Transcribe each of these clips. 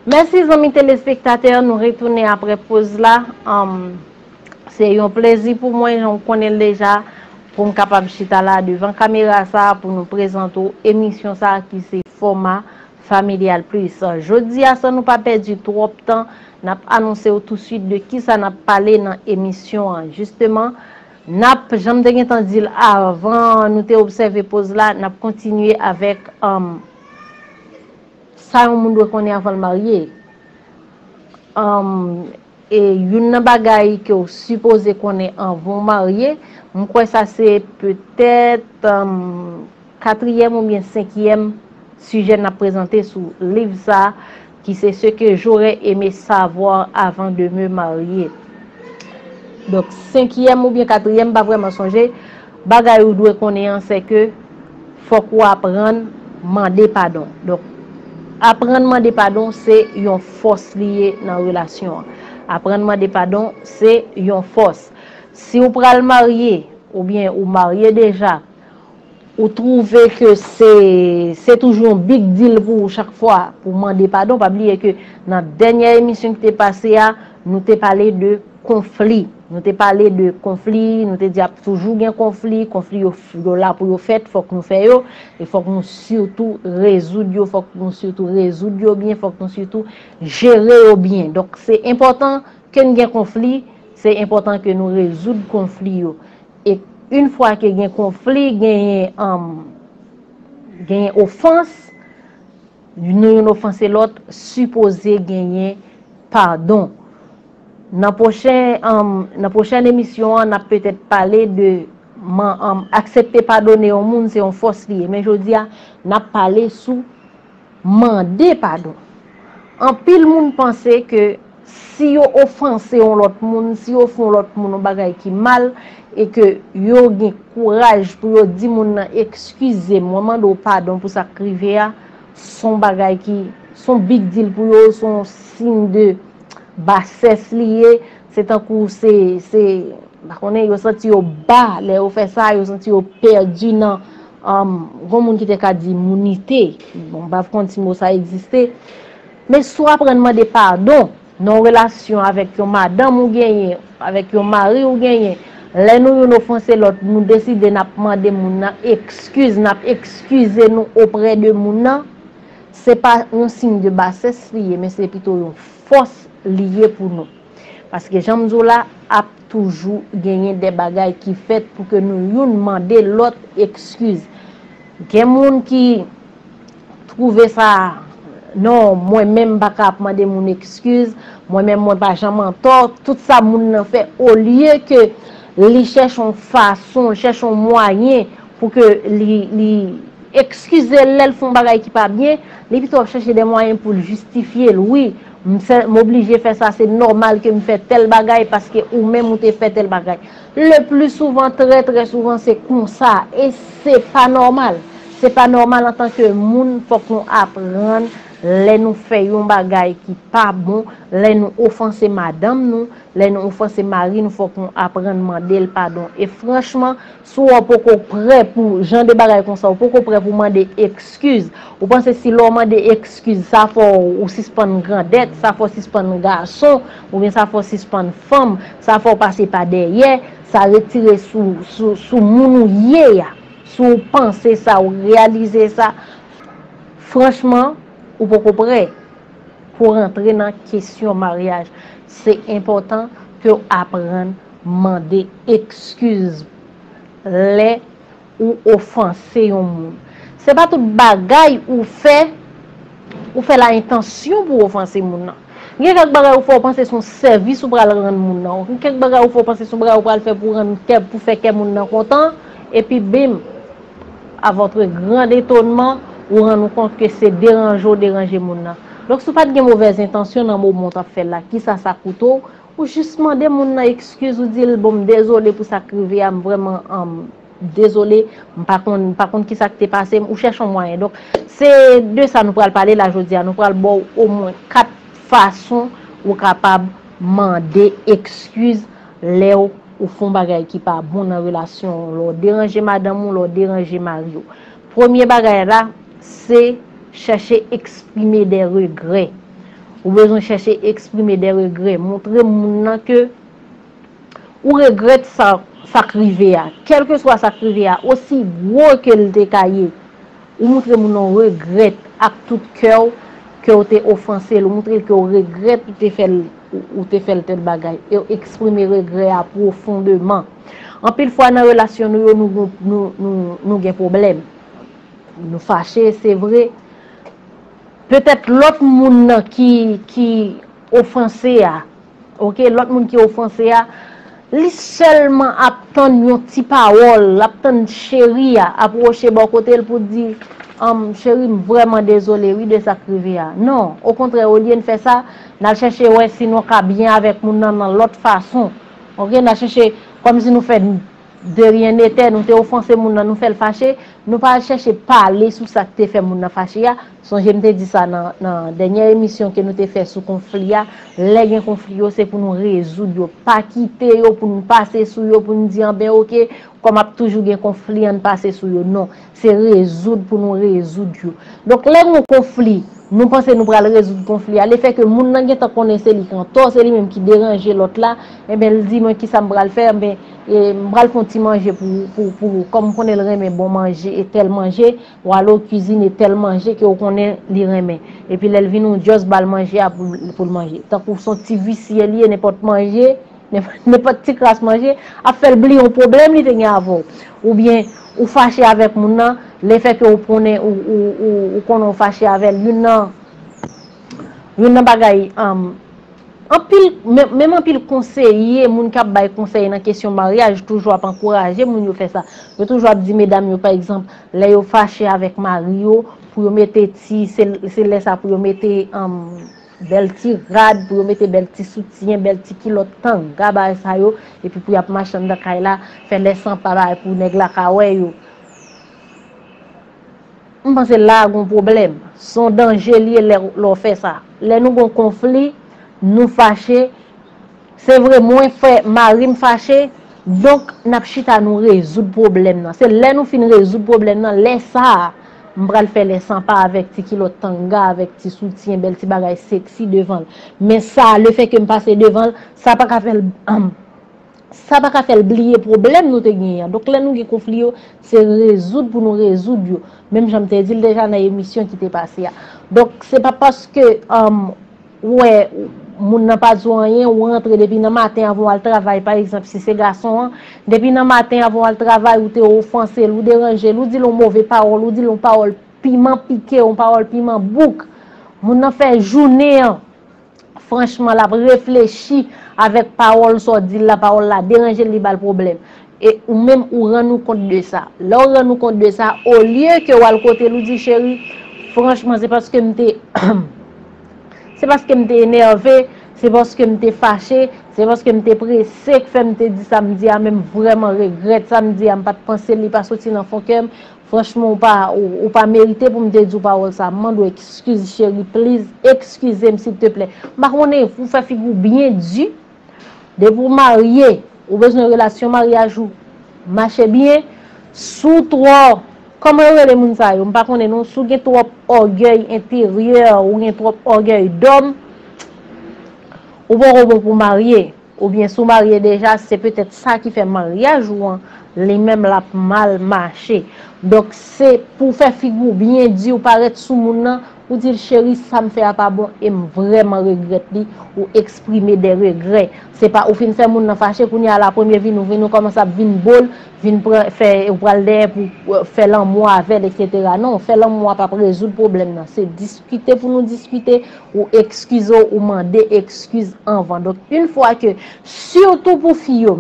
Mèsi zanmi telespektatè, nou retounen apre poz la. Se yon plezi pou mwen, jan w konnen l deja, pou m kapab chita la devan kamera sa a pou nou prezante w emisyon sa a ki se Foma Familial Plus. Jodi a san nou pa pèdi twòp tan, n ap anonse w tousuit de kisa n ap pale nan emisyon an. Jisteman. Nap, jan m te gentan di l avan nou te obsève poz la, n ap kontinye avèk sa yon moun dwe konnen avan l marye. E youn nan bagay ke w sipoze konnen avan w marye, m kwè sa se petèt. Katriyèm oubyen senkyèm sijè n ap prezante sou liv sa a ki se Ce que j'aurais aimé savoir avant de me marier. Donk, senkyèm oubyen katriyèm, m pa vrèman sonje, bagay ou dwe konnen an se ke fòk ou aprann mande padon. Donk, aprann mande padon se yon fòs li ye nan relasyon an. Aprann mande padon se yon fòs. Si ou pral marye oubyen ou marye deja, Ou trouve ke se, se toujou yon big deal pou ou chak fwa pou mande padon, pa bliye ke nan dènyè emisyon ki te pase a, nou te pale de konfli, nou te pale de konfli, nou te di ap toujou gen konfli, konfli yo yo la pou yo fèt, fòk nou fè yo, e fòk nou sitou rezoud yo, fòk nou sitou rezoud yo byen, fòk nou sitou jere yo byen. Donk se enpòtan ke n gen konfli, se enpòtan ke nou rezoud konfli yo. E yn fwa ke gen konfli, genyen genyen ofans, nou youn ofanse lòt, sipoze genyen padon. Nan pwochen, nan pwochèn emisyon an, nap petèt pale de aksepte padone yon moun se yon fòs li ye. Men jodi a, nap pale sou. Mande padon. Anpil moun panse ke si yo ofanse yon lòt moun, si yo fè yon lòt moun yon bagay ki mal, e ke yo gen kouraj pou yo di moun nan ekskize m, mwen mande w padon pou sa k rive a, s on bagay ki, s on big deal pou yo, s on siy de basès li ye, Se tankou se, se, m pa konnen, yo santi yo ba lè yo fè sa, yo santi yo pèdi nan, anm, gon moun ki te ka di mounite, bon m pa konn si mo sa egziste, men si w aprann mande padon nan yon relasyon avèk yon madanm ou genyen, avèk yon mari ou genyen, lè nou youn ofanse lòt, nou deside n ap mande moun nan ekskiz, n ap ekskize nou oprè de moun nan, se pa yon siy de basès li ye, men se pito yon. fòs li ye pou nou. Paske jan m di w la, ap toujou genyen de bagay ki fèt pou ke nou youn mande lòt ekskiz. Gen moun ki twouve sa, non, mwen menm m pa ka ap mande moun ekskiz, mwen menm mwen pa janm antò, tout sa moun nan fè, olye ke li chèche yon fason, chèche yon mwayen, Pou ke li, li ekskize l lè l fè yon bagay ki pa byen, li pito ap chache dè mwayen pou l jistifye l. Wi, m fè, m oblije fè sa, se nòmal ke m fè tèl bagay paske ou menm ou te fè tèl bagay. Le pli souvan, trè trè souvan se konsa. E se pa nòmal. Se pa nòmal antan ke moun, fòk nou aprann lè nou fè yon bagay ki pa bon, lè nou ofanse madanm nou, lè nou ofanse mari nou fòk nou aprann mande l padon. E franchman. Si w poko prè pou jan de bagay konsa, ou poko prè pou mande ekskiz, ou panse si lè w mande ekskiz sa fè w sispann grandèt, sa fè w sispann gason, oubyen sa fè w sispann fanm, sa fè w pase pa dèyè, sa retire sou moun ou ye a, si w panse sa, ou reyalize sa, franchman, ou poko prè pou rantre nan kesyon maryaj. Se enpòtan ke w aprann. Mande ekskiz lè ou ofanse yon moun. Se pa tout bagay ou fè, ou fè l a entansyon pou w ofanse moun nan. Gen kèk bagay ou fè ou panse se yon sèvis ou pral rann moun nan. Gen kèk bagay ou fè ou panse se yon bagay ou pral fè pou w rann kè, pou w fè kè moun nan kontan, epi bim! A vòtre grand etonman, ou rann ou kont ke se deranje w deranje moun nan. Donk si w pa t gen movèz entansyon nan moman w t ap fè l la, kisa sa koute w? Ou jis mande moun nan ekskiz ou dil bon m dezole pou sak rive a m vrèman dezole m pa konn m pa konn kisa ki te pase m ou chèche yon mwayen donk se de sa nou pral pale la jodi a nou pral baw omwen 4 fason ou kapab mande ekskiz lèw ou fon bagay ki pa bon nan relasyon w lè w deranje madanm ou lè w deranje mariw Premye bagay la, se chèche eksprime de regrè. Ou bezwen chèche eksprime de regrè. Montre moun nan ke ou regrèt sa k rive a. Kèlkeswa sa k rive a, osi gwo ke l te ka ye, ou montre moun nan ou regrèt ak tout kè w ke w te ofanse l. Ou montre l ke w regrèt ou te fè l tèl bagay. Eksprime regrè a pwofondeman. Anpil fwa nan relasyon nou yo nou gen pwoblèm. Nou fache se vre. Petèt lòt moun nan ki ofanse a, ok, lòt moun ki ofanse a, li sèlman ap tann yon ti pawòl, l ap tann cheri a ap woche bò kote l pou di, anm, cheri m vrèman dezole wi de sa k rive a. Non, okontrè olye n fè sa, n al chèche wè si nou ka byen avèk moun nan nan lòt fason. Ok na chèche kòm si nou fè de ryen netè nou te ofanse moun nan nou fèl fache nou pa al chèche pale sou sak te fè moun nan fache a sonje m te di sa nan dènyè emisyon ke nou te fè sou konfli a lè gen konfli yo se pou nou rezoud yo pa kite yo pou nou pase sou yo pou nou di anben ok kòm ap toujou gen konfli an nou pase sou yo non Se rezoud pou nou rezoud yo. Donk lè gon konfli, nou panse nou pral rezoud konfli a, le fè ke moun nan gen tan konnen se li k an tò, se li menm ki deranje lòt la, enben l di mwen ki sa m pral fè, enben m pral fè yon ti manje pou ou, kòm m konnen l renmen bon manje e tèl manje, w ale w kizine tèl manje ke w konnen li renmen. Epi lè l vini w just ba l manje a pou l manje. Tankou s on ti visye li ye nenpòt manje. Nenpòt ti kras manje ap fè l bliye yon pwoblèm li te gen avè w. Oubyen, ou fache avèk moun nan, lefètke ou konnen ou konnen ou fache avè l, youn nan youn nan bagay anpil menm anpil konseye, moun k ap bay konsèy nan kesyon maryaj toujou ap ankouraje moun yo fè sa. Yo toujou ap di medam yo pa egzanp, lè yo fache avèk mari yo pou yo mete ti se lè sa pou yo mete Bèl ti rad pou yo mete bèl ti soutyen, bèl ti kilòt tanga bagay sa yo, epi pou y ap mache anndan kay la, fè lè san pa bay pou nèg la ka wè yo. M panse la a gon pwoblèm. S on danje l ye lè w fè sa. Lè nou gon konfli, nou fache. Se vre mwen fè marim fache, donk nap chita nou rezoud pwoblèm nan. Se lè nou fin rezoud pwoblèm nan, lè sa a, m pral fè lè san pa avèk ti kilòt tanga, avèk ti soutyen, bèl ti bagay seksi devan l. Men sa, le fè ke m pase devan l, sa pa ka fè l, sa pa ka fè l bliye pwoblèm nou te genyen an. Donk lè nou gen konfli yo, se rezoud pou nou rezoud yo. Menm jan m te di l deja nan emisyon ki te pase a. Donk se pa paske. Ou wè moun nan pa di w anyen, ou rantre depi nan maten avan w al travay, pa egzanp si se gason an, depi nan maten avan w al travay ou te ofanse l, ou deranje l, ou di l yon move pawòl, ou di l yon pawòl piman pike, yon pawòl piman bouk, moun nan fè jounen an, franchman l ap reflechi avèk pawòl sa w di l la, pawòl la deranje l, li ba l pwoblèm. E ou menm ou rann ou kont de sa. Lè w rann ou kont de sa, olye ke w al kote l ou di, cheri, franchman se paske m te, se paske m te enève, se paske m te fache, se paske m te prese k fè m te di sa m di a men m vrèman regrèt sa m di a m pa t panse li pa soti nan fon kè m, franchman ou pa, ou pa merite pou m te di w pawòl sa, m mande w ekskiz cheri pliz, ekskize m silteplè. M pa konnen, ou fè figi w byen di. Depi ou marye, ou bezwen relasyon maryaj ou mache byen, si w twò, kòman yo rele moun sa yo, m pa konnen non, si w gen twòp ògèy enteryè, ou gen twòp ògèy dòm, ou poko bon pou w marye, oubyen si w marye deja, se petèt sa ki fè maryaj ou an, li menm l ap mal mache. Donk se pou w fè figi w byen di, ou parèt sou moun nan, Ou di l cheri sa m fè a pa bon e m vrèman regrèt li ou eksprime dè regrè se pa ou fin fè moun nan fache kounye a la premye vini ou vini ou kòmanse ap vin bo l vin pran fè ou pral dèyè pou fè lanmou avè l eksetera non fè lanmou a pap rezoud pwoblèm nan se diskite pou nou diskite ou ekskize w ou mande ekskiz anvan donk yn fwa ke sitou pou fi yo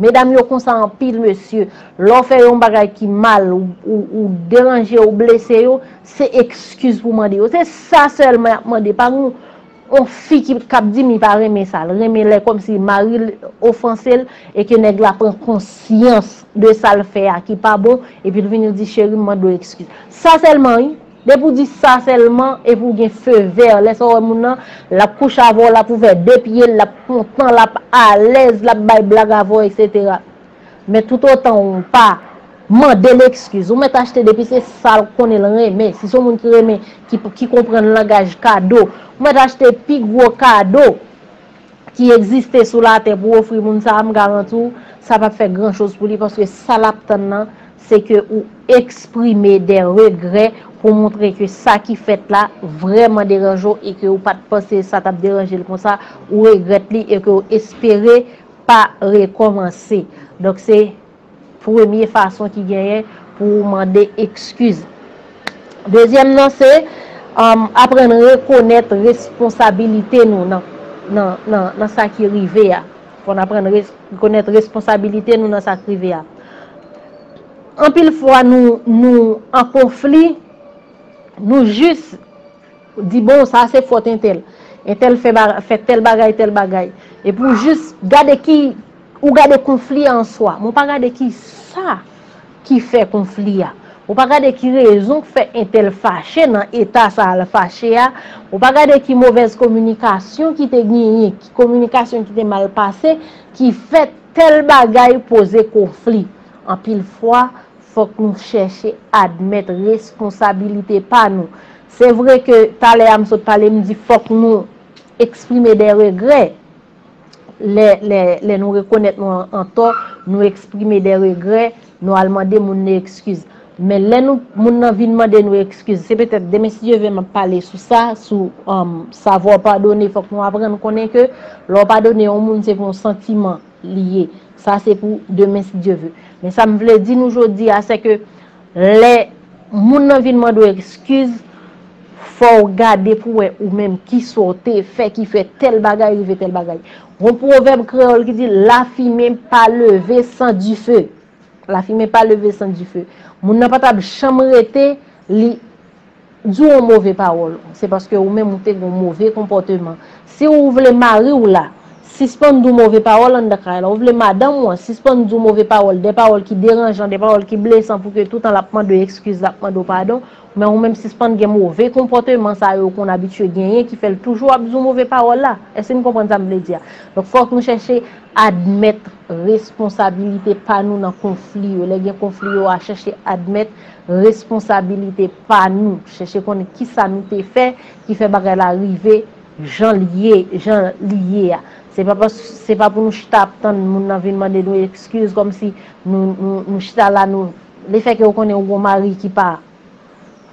medam yo konsa anpil mesye lè w fè yon bagay ki mal ou deranje ou blese yo Se ekskiz pou mande yo. Se sa sèlman y ap mande. Pa gen yon fi ki ap di li pa renmen sa. Li renmen lè kòmsi mari l ofanse l e ke nèg la pran konsyans de sa l fè a ki pa bon epi l vini l di cheri m mande w ekskiz. Sa sèlman wi. Depi ou di sa sèlman epi ou gen fe vè, lè sa w wè moun nan, l ap kouche avè w, l ap ouvè de pye l, l ap kontan, l ap alèz, l ap bay blag avè w, eksetera. Men tout otan ou pa Mandel ekskiz ou mèt achte depi se sal konnen l renmen si son moun ki renmen ki konprann langaj kado ou mèt achte pi gwo kado ki ekziste sou latè pou ofri moun sa m garanti w sa pap fè gran choz pou li paske sa lap tann nan se ke ou eksprime de regrè pou montre ke sa ki fèt la vrèman deranje w e ke ou pat panse sa tap deranje l konsa ou regrèt li e ke ou espere pa rekòmanse. Donk se premye fason ki genyen pou ou mande ekskiz. Dezyèm nan se aprann rekonèt responsabilite nou nan sa ki rive a. Fò n aprann rekonèt responsabilite nou nan sa ki rive a. Anpil fwa nou an konfli, nou jis. Ou di bon sa se fòt entèl. Entèl fè tèl bagay, tèl bagay. Epi ou jis gade ki, ou gade konfli a an swa. Men ou pa gade ki sa ki fè konfli a. Ou pa gade ki rezon ki fè entèl fache nan eta sa a li fache a. Ou pa gade ki movèz kominikasyon ki te genyen, ki kominikasyon ki te mal pase, ki fè tèl bagay poze konfli. Anpil fwa. Fòk nou chèche admèt responsabilite pa nou. Se vre ke talè a m sot pale m di fòk nou eksprime dè regrè. Lè nou rekonèt nou an tò, nou eksprime dè regrè, nou al mande moun nan ekskiz. Men lè nou moun nan vin mande nou ekskiz, se petèt demen si Dye ve m ap pale sou sa, sou savoir pardonner, fòk nou aprann konnen ke lè w padone yon moun se pou yon santiman. li ye. Sa se pou demen si Dye ve. Men sa m vle di nou jodi a se ke lè moun nan vin mande w ekskiz, fò w gade pou wè ou menm ki sa w te fè ki fè tèl bagay rive tèl bagay. Gon pwovèb kreyòl ki di lafimen pa leve san dife. Lafimen pa leve san dife. Moun nan pa t ap janm rete li di w yon move pawòl. Se paske ou menm ou te gen yon move konpòteman. Si ou vle mari w la sispann di w move pawòl anndan kay la, ou vle madanm ou an sispann di w move pawòl, de pawòl ki deranjan, de pawòl ki blesan pou ke toutan l ap mande w ekskiz, l ap mande w padon, men ou menm sispann gen move konpòteman sa yo ou konn abitye genyen ki fè l toujou ap di w move pawòl la. Èske n konprann sa m vle di a? Donk fòk nou chèche admèt. Responsabilite pa nou nan konfli yo. Lè gen konfli yo a chèche admèt responsabilite pa nou. Chèche konnen ki sa nou te fè ki fè bagay la rive jan li ye a. Se pa pou nou chita ap tann moun nan vin mande nou ekskiz kòm si nou chita la nou. Le fè ke ou konnen ou gen yon mari ki pa.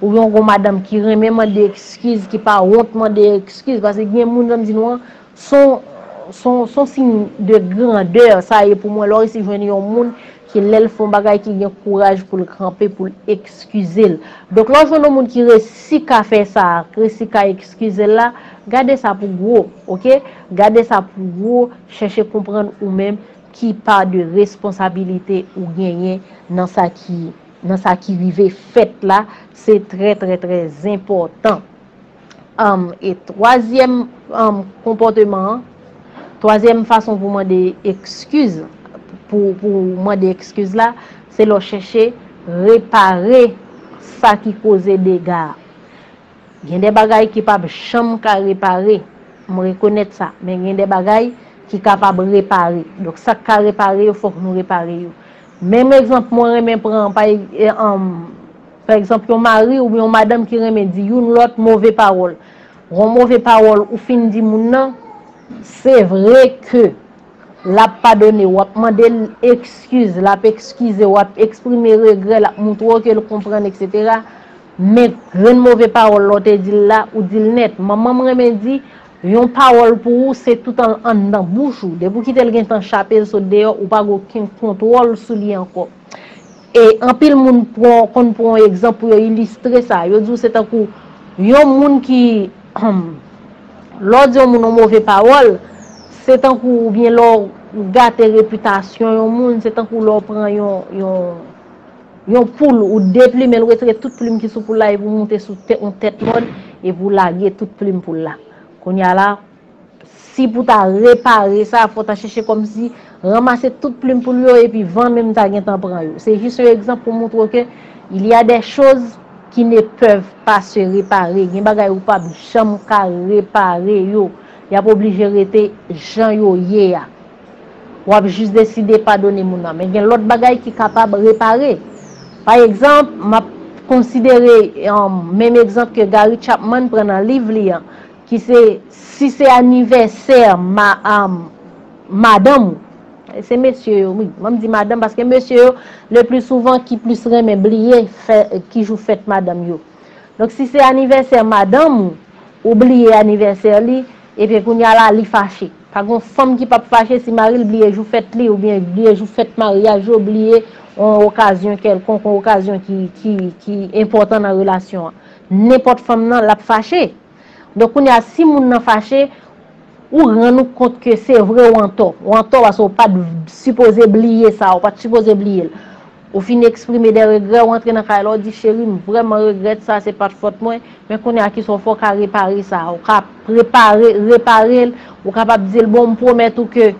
Ou gen yon gwo madanm ki renmen mande ekskiz, ki pa wont mande ekskiz, paske gen moun jan m di nou an, son siy de grandè sa ye pou mwen lè w resi jwenn yon moun ki lè l fè yon bagay ki gen kouraj pou l kanpe pou l ekskize l. Donk lè w jwenn yon moun ki resi ka fè sa, ki resi ka ekskize l la, gade sa pou gwo, ok, gade sa pou gwo, chèche konprann ou menm ki pa de responsabilite ou genyen nan sa ki. nan sa ki rive fèt la, se trè trè trè zenpòtan. Am, e twazyèm am konpòteman an, twazyèm fason pou mande ekskiz, pou pou mande ekskiz la, se lè w chèche repare sa ki koze dega a. Gen de bagay ki pap janm ka repare, m rekonèt sa, men gen de bagay ki kapab repare. Donk sa k ka repare yo fòk nou repare yo. Menm egzanp mwen renmen pran, pa egzanp yon mari oubyen yon madanm ki renmen di youn lòt move pawòl. Yon move pawòl ou fin di moun nan, se vre ke l ap padone w, w ap mande l ekskiz, l ap ekskize w, l ap eksprime regrè, l ap montre w ke l konprann eksetera, men grenn move pawòl la ou te di l la, ou di l nèt. Manman m renmen di. Yon pawòl pou ou se toutan l anndan bouch ou. Depi w kite l gen tan chape l sot deyò, ou pa gen okenn kontwòl sou li ankò. E anpil moun konn pran yon egzanp pou yo ilistre sa. Yo di w se tankou yon moun ki, lè w di yon moun yon move pawòl, se tankou oubyen lè w gate repitasyon yon moun, se tankou lè w pran yon. Yon poul, ou deplimen l, retire tout plim ki sou poul la epi w moute sou yon tèt mòn epi w lage tout plim poul la. Kounye a la, si pou w ta repare sa, fò w ta chèche kòmsi ranmase tout plim poul yo epi van menm ta gentan pran yo. Se jis yon egzanp pou moutre w ke il y a des choses qui ne peuvent pas se réparer. Gen bagay ou pap janm ka repare yo. Y ap oblije rete jan yo ye a. w ap jis deside padone moun nan. Men gen lòt bagay ki kapab repare. Pa egzanp, m ap konsidere menm egzanp ke Gary Chapman pran nan liv li an, ki se, si se anivèsè madanm ou, se mesye yo wi, an m di madanm paske mesye yo le pli souvan ki plis renmen bliye ki jou fèt madanm yo. Donk si se anivèsè madanm ou, ou bliye anivèsè li, ebyen kounya la li fache. Pa gon fanm ki pap fache si mari l bliye jou fèt li oubyen bliye jou fèt maryaj yo, bliye yon okazyon kèlkonk, yon okazyon ki enpòtan nan relasyon an. Nenpòt fanm nan, l ap fache. Donk kounye a, si moun nan fache, ou rann ou kont ke se vre ou antò. Ou antò paske ou pa t sipoze bliye sa, ou pa t sipoze bliye l. Ou fin eksprime de regrè, ou antre nan kay la, ou di, Cheri, m vrèman regrèt sa, se pa t fòt mwen, men kounye a ki sa w fè, ou ka repare sa a, ou ka prepare, repare l, ou kapab di l, bon, m pwomèt ou ke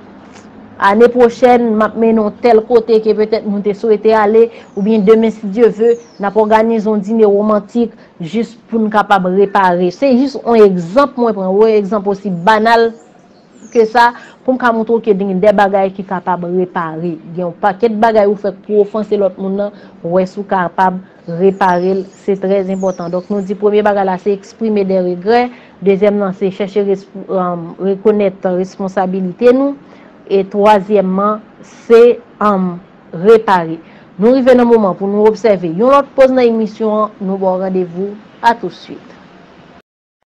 ane pwochèn, m ap mennen w tèl kote ke petèt nou te swete ale, oubyen demen si Dye ve, n ap òganize yon dine womantik jis pou n kapab repare. Se jis yon egzanp mwen pran, yon egzanp osi banal. ke sa, pou m ka montre w ke gen dè bagay ki kapab repare. Gen yon pakèt bagay ou fè pou ofanse lòt moun nan, wè si w kapab repare l, se trè enpòtan. Donk nou di premye bagay la se eksprime dè regrè, dezyèm nan se chèche rekonèt responsabilite nou, e twazyèmman se repare. Nou rive nan moman pou nou obsève yon lòt poz nan emisyon an, nou ba w randevou a tousuit.